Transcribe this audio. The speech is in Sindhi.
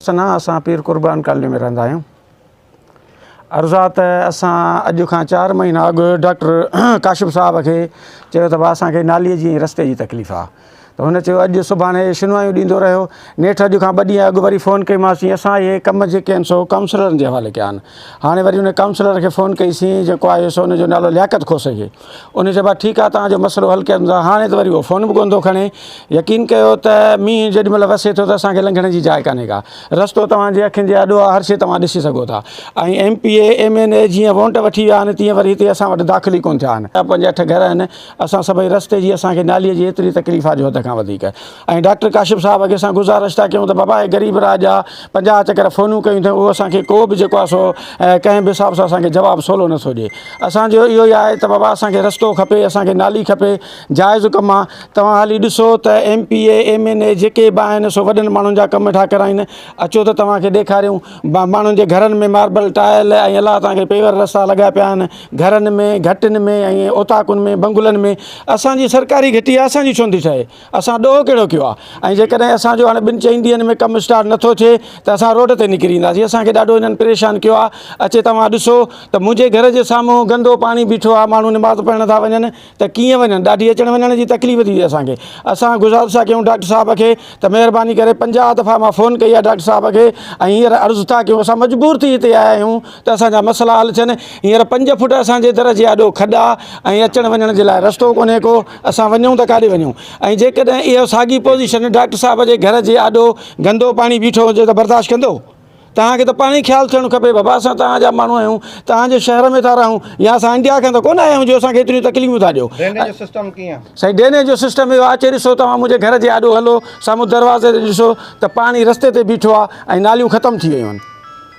سنا اسان پير قربان ڪالني ۾ رهندا آهيون عرض آ ته اسان اڄ کان چار مهينا اڳ ڊاڪٽر ڪاشف صاحب کي چيو ته با اسان کي نالي جي رستي جي تڪليف آ ته هن چيو اڄ سڀاڻي شنوايون ڏيندو رهيو نيٺ اڄ کان ٻه ڏينهن اڳ وري فون ڪئي مانس چي اسان اهي ڪم جيڪي آهن سو ڪائونسلرن جي حوالي ڪيا آهن هاڻي وري ان ڪائونسلر کي فون ڪئي سين جيڪو آيو سو ان جو نالو لياقت کوسي انهن چيو ڀاء ٺيڪ آهي توهان جو مسئلو حل ڪيو ته هاڻي ته وري اهو فون به ڪونه ٿو کڻي يقين ڪيو ته مينهن جيڏي مهل وسي ٿو ته اسان کي لنگهڻ جي جاء ڪانهي ڪا رستو توهان جي اکين جي آڏو آهي هر شي توهان ڏسي سگهو ٿا ۽ M P A M N A جيئن وونٽ وٺي ويا آهن تيئن وري هتي اسان وٽ داخل ئي ڪونه ٿيا آهن پنج اٺ گهر آهن اسان سڀئي رستي جي اسان کي نالي جي ايتري تڪليف آهي جو حد کان وڌيڪ ۽ ڊاڪٽر ڪاشف صاحب اڳي سان گذارش ٿا ڪيون ته بابا هي غريب راڄ آ پنجاهه چڪر فونون ڪيون اٿئون اهو اسان کي ڪو به جيڪو آ سو ڪنهن به حساب سان اسان کي جواب سولو نٿو ڏي اسان جو اهو ئي آهي ته بابا اسان کي رستو کپي اسان کي نالي کپي جائز ڪم آ توهان هلي ڏسو ته M P A M N A جيڪي به آهن سو وڏن ماڻهن جا ڪم ٺا ڪرائين اچو ته توهان کي ڏيکاريون ماڻهن جي گهرن ۾ ماربل ٽائل ۽ الله توهان کي پيور رستا لڳا پيا آهن گهرن ۾ گهٽين ۾ ۽ اوطاقن ۾ بنگلن ۾ اسان جي سرڪاري گهٽي آ اسان جي ڇو نٿي ٺهي اسان ڏوهه ڪهڙو ڪيو آهي ۽ جيڪڏهن اسان جو هاڻي ٻن چئن ڏينهن ۾ ڪم اسٽارٽ نه ٿو ٿئي ته اسان روڊ تي نڪري اينداسين اسان کي ڏاڍو هنن پريشان ڪيو آهي اچي توهان ڏسو ته منهنجي گهر جي سامهون گندو پاڻي بيٺو آهي ماڻهو نماز پڙهڻ ٿا وڃن ته ڪيئن وڃن ڏاڍي اچڻ وڃڻ جي تڪليف ٿي ٿئي اسان کي اسان گذارش ٿا ڪيون ڊاڪٽر صاحب کي ته مهرباني ڪري پنجاهه دفعا مان فون ڪئي آهي ڊاڪٽر صاحب کي ۽ هينئر عرض ٿا ڪيون اسان مجبور ٿي هتي آيا آهيون ته اسان جا مسئلا حل ٿين هينئر پنج فوٽ اسان جي در جي آڏو کڏا ۽ اچڻ وڃڻ جي لاء رستو ڪونهي ڪو اسان وڃون ته ڪاڏي وڃون ۽ جيڪڏهن اهو ساڳي پوزيشن ڊاڪٽر صاحب جي گهر جي آڏو گندو پاڻي بيٺو هجي ته برداشت ڪندو؟ توهان کي ته پاڻهي خيال ٿيڻ کپي بابا اسان توهان جا ماڻهو آهيون، توهان جي شهر ۾ ٿا رهون يا اسان انڊيا کان ته ڪونه آيا آهيون جو اسان کي ايتريون تڪليفون ٿا ڏيو. ڊرينيج جو سسٽم ڪيئن؟ سائين ڊرينيج جو سسٽم اهو آهي اچي ڏسو توهان منهنجي گهر جي آڏو هلو سامهون دروازي تي ڏسو ته پاڻي رستي تي بيٺو آهي ۽ ناليون ختم ٿي ويون آهن.